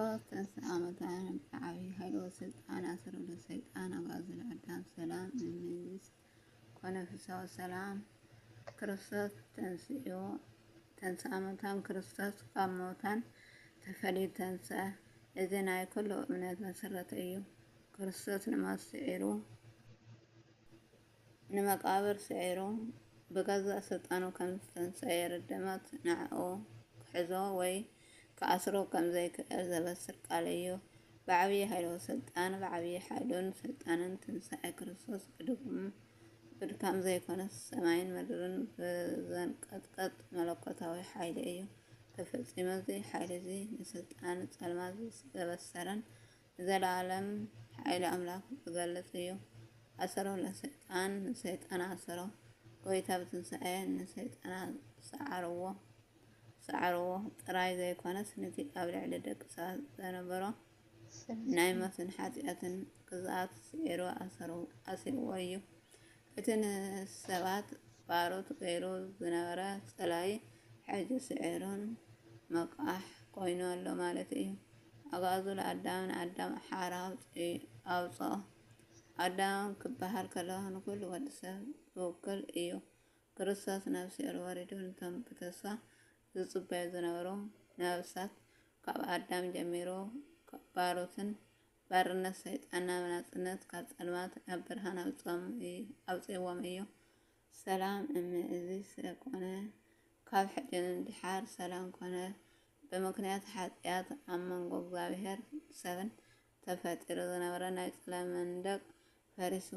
ኦፍ ተስኣመታን ብዓብዪ ሃይሎ ስልጣን ኣሰረዶ ሰይጣን ኣጓዝል ኣዳም ሰላም ንመንግስ ኮነ ፍሳው ሰላም ክርስቶስ ተንስዮ ተንስኣመታን ክርስቶስ ካብ ሞታን ተፈልዩ ተንሰ እዚ ናይ ኩሉ እምነት መሰረት እዩ ክርስቶስ ንሞት ስዒሩ ንመቃብር ስዒሩ ብገዛእ ስልጣኑ ከም ዝተንስኣ የረድእ ሞት ንዕኡ ክሕዞ ወይ ክኣስሮ ከም ዘይክእል ዘበስር ቃል እዩ። ብዓብዪ ሃይለወ ስልጣን ብዓብዪ ሓይሉን ስልጣንን ትንሳኤ ክርስቶስ ብድኹም ብድካም ዘይኮነስ ሰማይን ምድርን ብዘንቀጥቀጥ መለኮታዊ ሓይሊ እዩ ተፈጺሙ እዚ ሓይሊ እዚ ንስልጣን ጸልማት ዘበሰረን ዘላኣለም ሓይሊ ኣምላክ ዝገልጽ እዩ ኣሰሮ ለሰይጣን ንሰይጣን ኣሰሮ ጎይታ ብትንሳኤ ንሰይጣና ሰዓርዎ ሰዓርዎ ጥራይ ዘይኮነስ ነቲ ኣብ ልዕሊ ደቂ ሰባት ዘነበሮ ናይ ሞትን ሓጢኣትን ግዝኣት ስዒሩ ኣሰሩ ኣሲርዎ እዩ እቲ ንሰባት ባሮት ገይሩ ዝነበረ ጸላይ ሕጂ ስዒሩን መቃሕ ኮይኑ ኣሎ ማለት እዩ ኣግኣዙ ለኣዳም ንኣዳም ሓራ ኣውጽኦ። ኣዳም ክበሃል ከሎ ንኹሉ ወዲ ሰብ ዝውክል እዩ። ክርስቶስ ናብ ሲኦል ወሪዱ ነቶም ብተስፋ ዝጽበዩ ዝነበሩ ነፍሳት ካብ ኣዳም ጀሚሩ ካብ ባሮትን ባርነት ሰይጣን ናብ ናጽነት ካብ ጸልማት ናብ ብርሃን ኣውጽእዎም እዩ። ሰላም እም እዚ ስለ ኮነ ካብ ሕጂ ንድሓር ሰላም ኮነ ብምክንያት ሓጥያት ኣብ መንጎ እግዚኣብሄርን ሰብን ተፈጢሩ ዝነበረ ናይ ጸላም መንደቅ ፈሪሱ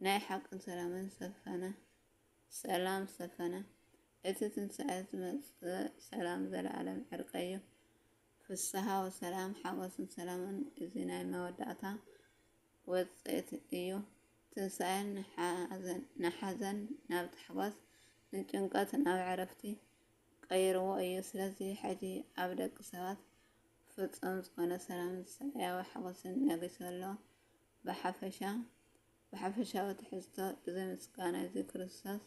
ናይ ሓቅን ሰላምን ሰፈነ ሰላም ሰፈነ እቲ ትንሳኤ ዝመጽእ ሰላም ዘለኣለም ዕርቀዩ ፍስሃ ወሰላም ሓጎስን ሰላምን እዚ ናይ መወዳእታ ወጽእት እዩ ትንሳኤ ንሓዘን ናብ ታሕጓስ ንጭንቀት ናብ ዕረፍቲ ቀይርዎ እዩ ስለዚ ሕጂ ኣብ ደቂ ሰባት ፍጹም ዝኾነ ሰላም ሰማያዊ ሓጎስን ነጊሱ ኣሎ ብሓፈሻ ብሓፈሻዊ ትሕዝቶ እዚ ምስጋና እዚ ክርስቶስ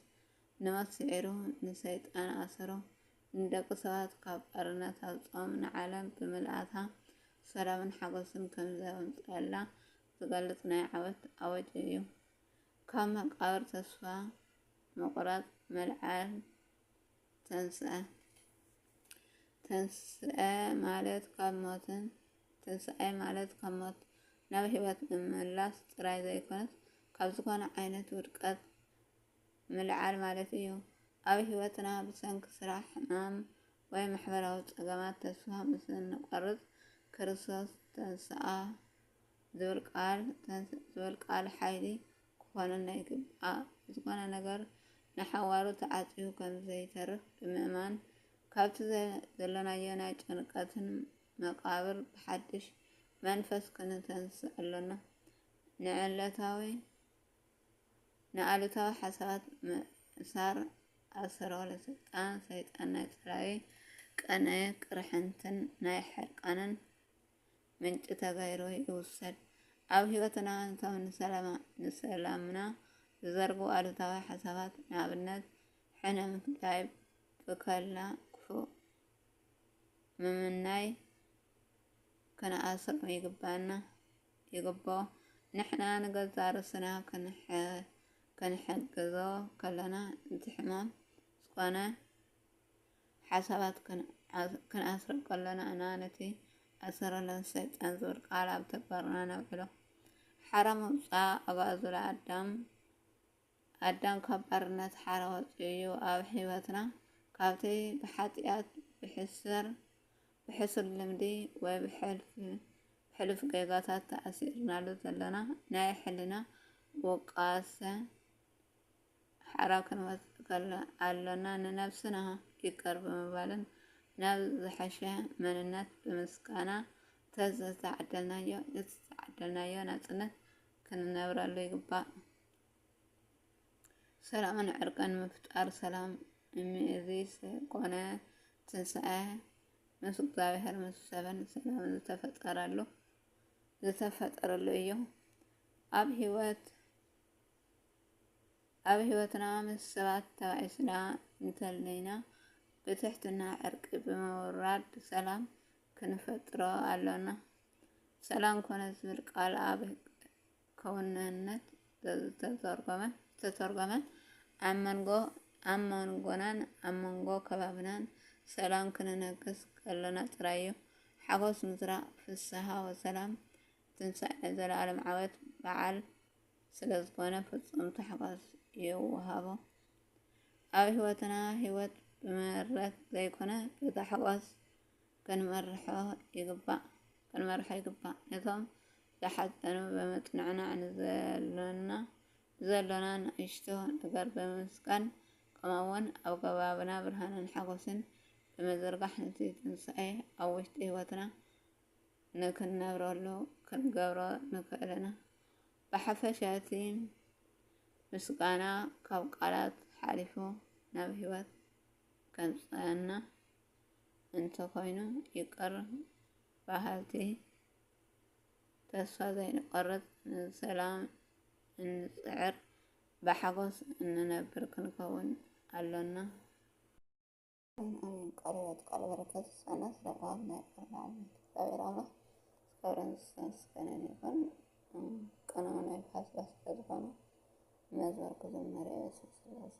ንሞት ስዒሩ ንሰይጣን ኣሰሮ ንደቂ ሰባት ካብ ባርነት ኣውጽኦም ንዓለም ብምልኣታ ሰላምን ሓጎስን ከምዘምጸኣላ ዝገልጽ ናይ ዓወት ኣወጅ እዩ። ካብ መቃብር ተስፋ ምቁራጽ ምልዓል ተንስኣ። ተንስኣ ማለት ካብ ሞትን ትንሳኤ ማለት ካብ ሞት ናብ ሕይወት ምምላስ ጥራይ ዘይኮነስ ካብ ዝኾነ ዓይነት ውድቀት ምልዓል ማለት እዩ። ኣብ ህይወትና ብሰንኪ ስራሕ፣ ሕማም፣ ወይ ማሕበራዊ ጸገማት ተስፋ ምስ እንቈርጽ፣ ክርስቶስ ተንስኣ ዝብል ቃል፣ ተንስእ ዝብል ቃል ሓይሊ ክዀነና ይግባእ። ዝዀነ ነገር ንሓዋሩ ተዓጽዩ ከም ዘይተርፍ ብምእማን፣ ካብቲ ዘሎናዮ ናይ ጭንቀትን መቓብር ብሓድሽ መንፈስ ክንተንስእ ኣሎና። ንዕለታዊ ንኣሉታዊ ሓሳባት ምእሳር ኣሰረዋለ ስልጣን ሰይጣን ናይ ጸላዊ ቀነ ቅርሕንትን ናይ ሕርቃንን ምንጪ ተገይሩ ይውሰድ። ኣብ ህይወትና እቶም ንሰላምና ዝዘርጉ ኣሉታዊ ሓሳባት ንኣብነት ሕነ ምፍዳይ፣ ብከላ ክፉእ ምምናይ፣ ክንኣስሮም ይግባና ይግብኦ። ንሕና ንገዛእ ርእስና ክንሕግዞ ከለና እቲ ሕማም ዝኾነ ሓሳባት ክንኣስሮ ከለና እና ነቲ ኣሰረለን ሰይጣን ዝብል ቃል ኣብ ተግባርና ነውዕሎ። ሓራ ምውፃእ ኣባእዙላ ኣዳም ኣዳም ካብ ባርነት ሓራ ወጺኡ እዩ ኣብ ሕይወትና ካብቲ ብሓጢኣት ብሕሰር ብሕሱር ልምዲ ወይ ብሕልፍ ብሕሉፍ ጌጋታት ተኣሲርናሉ ዘለና ናይ ሕልና ውቃሰ ሓራ ክንወጽእ ከሎ ኣሎና ንነብስና ይቅር ብምባልን ናብ ዝሐሸ መንነት ብምስቃና ተዝተዓደልናዮ ዝተዓደልናዮ ናጽነት ክንነብረሉ ይግባእ። ሰላምን ዕርቅን ምፍጣር ሰላም እምይእዚ ኮነ ትንሳኤ ምስ እግዚኣብሔር ምስ ሰብን ሰላም ዝተፈጠረሉ ዝተፈጠረሉ እዩ። ኣብ ህይወት ኣብ ህይወትና ምስ ሰባት ተባኢስና እንተለይና ብትሕትና ዕርቂ ብምውራድ ሰላም ክንፈጥሮ ኣሎና። ሰላም ኮነ ዝብል ቃል ኣብ ክውንነት ዝተተርጎመን ዝተተርጎመን ኣብ መንጎ ኣብ መንጎናን ኣብ መንጎ ከባብናን ሰላም ክንነግስ ከሎና ጥራይ እዩ። ሓጎስ ምዝራእ ፍስሃ ወሰላም ትንሳኤ ዘለኣለም ዓወት በዓል ስለዝኾነ ፍጹም ታሕጓስ ይወሃቦ። ኣብ ህይወትና ህይወት ብመረት ዘይኮነ ብታሕጓስ ከንመርሖ ይግባእ። ከንመርሖ ይግባእ። ነቶም ዝሓጸኑ ብምጽንዕናዕ ንዘሎና ብዘሎና ንእሽቶ ነገር ብምምስጋን ከምኡውን ኣብ ከባብና ብርሃንን ሓጎስን ብምዝርጋሕ ነቲ ትንሳኤ ኣብ ውሽጢ ህይወትና ንክንነብረሉ ክንገብሮ ንክእል ኢና። ብሓፈሻ እቲ ምስጋና ካብ ቃላት ሓሊፉ ናብ ህይወት ከምጽኣና እንተኾይኑ ይቅር በሃልቲ ተስፋ ዘይንቆርፅ ንሰላም እንፅዕር ብሓጎስ እንነብር ክንከውን ኣሎና። ኣሜን ኣሜን ቃለ ሕይወት ቃለ በረከት ይስጠና ስለብርሃን ናይ ቃል መዓልነት እግዚኣብሔር ኣምላክ ክብርን ምስጋናን ይኹን። ቅንኡ ናይ ብሓስባ ስለዝኾነ መዝሙር ክዝመር የበስብ ስላሴ